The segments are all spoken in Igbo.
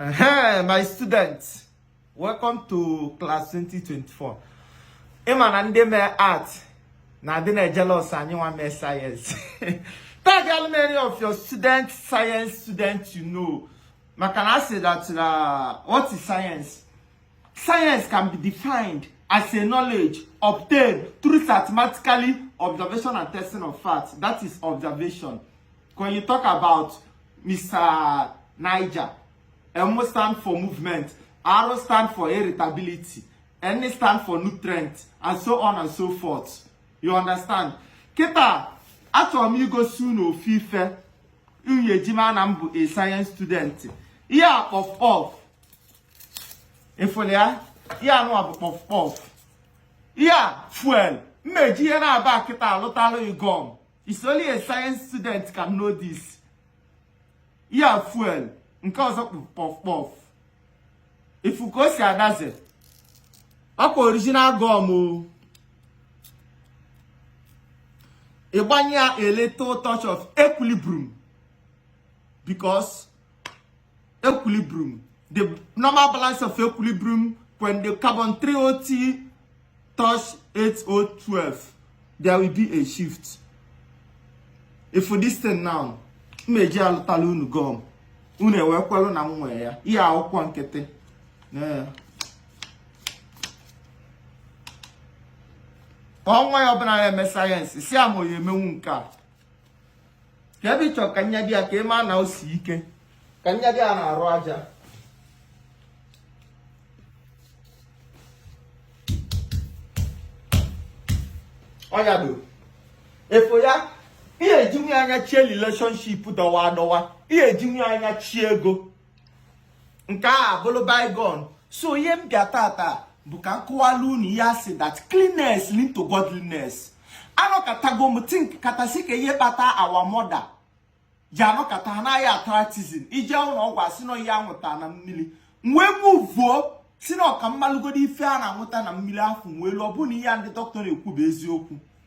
Hey, my students, welcome to class 2024. Ịma na ndị mee art na adị na jealous anyị nwa mee science. Tag how many of your student science students you know. Maka na asị that uh, what is science? Science can be defined as a knowledge obtained through systematically observation and testing of facts. That is observation. when you talk about Mr. Niger M stand for movement R stand for irritability N stand for nutrient and so on and so forth you understand kịta achọrọ m igosi unu ofu ife unu ya-eji ma na m bụ a science student ihe a kpọf kpọf efole ya ihe a nụwa bụ kpọf kpọf ihe a fuel m na-eji ihe naabọ a kịta alụtalụ ị gum It's only a science student can know this. Ya fuel nke ọzọ kpọf kpọf ị fụ ka o si adaze ọ kwa original gum o ị gbanye ya a little touch of equilibrium because equilibrium the normal balance of equilibrium when the carbon 3OT touch 8012 there will be a shift if this thing now m eji alụtala unu gum unu ewee kwelu na m nwee ya ihe akwụkwọ nkịtị onye ọbụla na-eme sayensị si ama onye emenwu nke a ka ebe ị chọ ka nyado ya ka ị ma na o si ike ka nyado ya n'arụ aja ọ nyado efo ya ị ye-ejinwu ya anyachie relationship dọwa adọwa ị ye-ejinwu ya anyachie ego nke a bụrụ bygone so ihe m bịa tata bụ ka m kọwalụ unu ihe a sị that cleanness lead to godliness anọkatago m think kata sị kee ihe kpata our mother ji anọkata ha naghị atratizin ije ụlọ ọgwụ a sị na ihe a nwụta na mmiri wee muvuo sị na ọ ka m malụgodu ife a na-anwụta na mmiri afọ wee lụọ bụ na ihe ndị doctor na-ekwu bụ eziokwu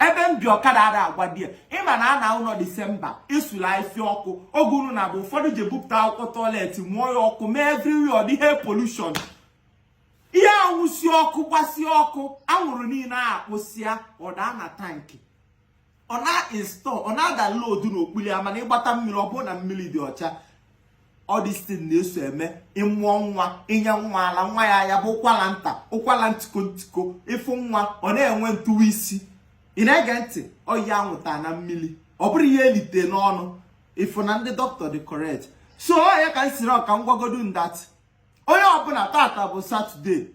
ebe m bi ọkada ada agwa di ya ị ma na a na ụlọ disemba esula ife ọkụ oge unu na-abụ ụfọdụ ji ebupụta akwụkwọ tọiletị mụọ ya ọkụ mee everywhere ọ dị air pollution ihe a nwusie ọkụ gbasie ọkụ anwụrụ niile a akpụsịa ọ daa na tankị ọ na-e-store ọ na-ada lodu n'okpulu ya mana ị gbata mmiri ọ bụrụ na mmili dị ọcha all these things na-eso eme ị mụọ nwa i nye nwa ala nwa ya ya bụ ụkwala nta ụkwala ntiko ntiko ị fụ nwa ọ na-enwe ntụwa isi ị na-ege ntị ọya a nwụta na mmili ọ bụrụ ihe e lite n'ọnụ ị fụ na ndị doctor dị correct so ọ ya ka m siri ọ ka m gwagodu unu that onye ọbụla tata bụ satọde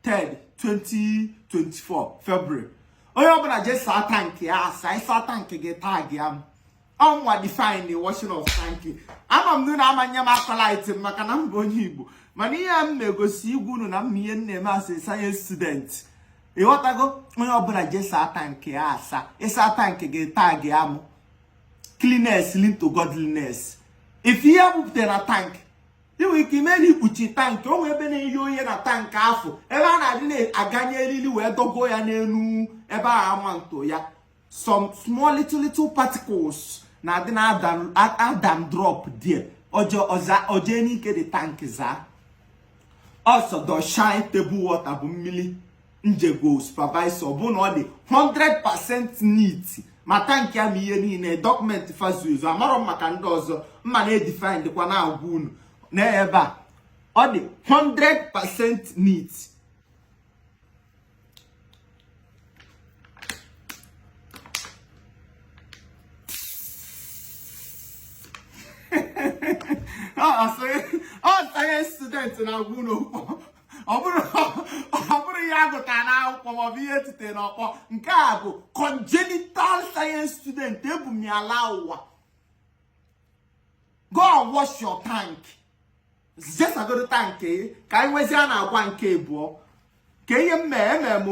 3 2024 February onye ọbụla jee saa tankị ya asa ịsa tankị gị taa gị ama mụnwa define washing of tank ama m unu ama enye m accolade m maka na m bụ onye igbo mana ihe m na-egosi ịgwa unu na m ihe m na-eme as science student ịghọtago onye ọbụla jee saa tankị ya asa ịsa tankị gị taa gị amụ cleanliness lead to godliness ịfụ ihe bupụtara na tankị ị nwere ike ime na ikpuchi tankị o nwee ebe na-eye oye na tankị afụ ebe a na-adị na-aganye eriri wee dọgo ya n'elu ebe a ama nto ya some small little little particles na-adị na adam drop there o jee n'ike the tankị zaa ọsọ dọshine table water bụ mmiri njego supervisor ọ bụrụ na ọ dị 100% neat ma tankị a ma ihe niile document fazuzu amarọ m maka ndị ọzọ mụa na-edefine dịkwa na-agwa unu na ebe a ọ dị 100% neat ọ science student na-agwa unu ọ bụrọ ihe a gụtara n'akwụkwọ maọbụ ihe e tite n'ọkpọ nke a bụ congenital science student ebu m ya laa ụwa go and wash your tank jee sagodu tank ka anyị nwezie a na-agwa nke abụọ ka ihe m mee emere m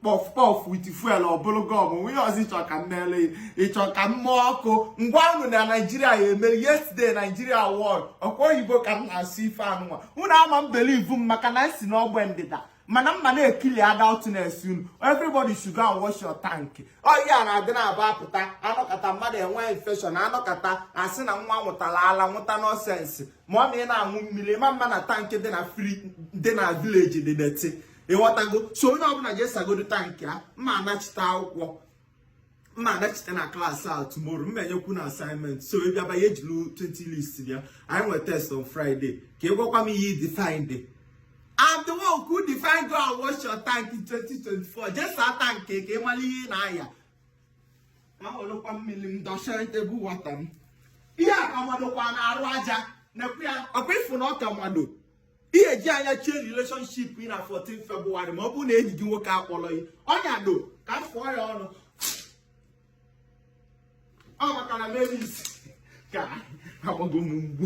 kpọf kpọf with fuel ọbụrụ gọm nwunye ọzọ ịchọ ka m meele ịchọ ka m mụọ ọkụ m gwa unu na naijiria ya emere yesterday naijiria won ọkwa oyibo ka m na-asụ ife anụnwa unu ama believe m maka na m si n'ogbe ndịda mana mụa na-ekili adultness unu everybody should go and wash your tank ọya na-adị na-aba apụta anọkata mmadụ enwe infection anọkata asị na nwa ṅụtara ala ṅụta nonsense ma ọ ma ị na-aṅụ mmiri mana tankị dị na fri dị na village dị dirty ịghọtago so onye ọbụla jee sagodu tankị a ma anachite akwụkwọ m na-anachite na class a tomorrow m na-enyekwu unu assignment so ị bịaba gị ejili 20 leaves bịa anyị nwere test on Friday ka ị gwakwa m ihe ị define dị I'm the one who define go and wash your tank in 2024 just saa tank ka ị mara ihe ị na-aya ahụlụkwa mmiri m dọchara table water m ihe a ka madokwa n'arụ aja na-ekwu ya ọkwa ịfụ na ọ ka mado ihe eji anya chie relationship gị na 14 February ma ọ bụrụ na enyi gị nwoke akpọrọ gị ọnya do ka m fụọ ya ọnụ ọ maka na meris ka agbago m mgbu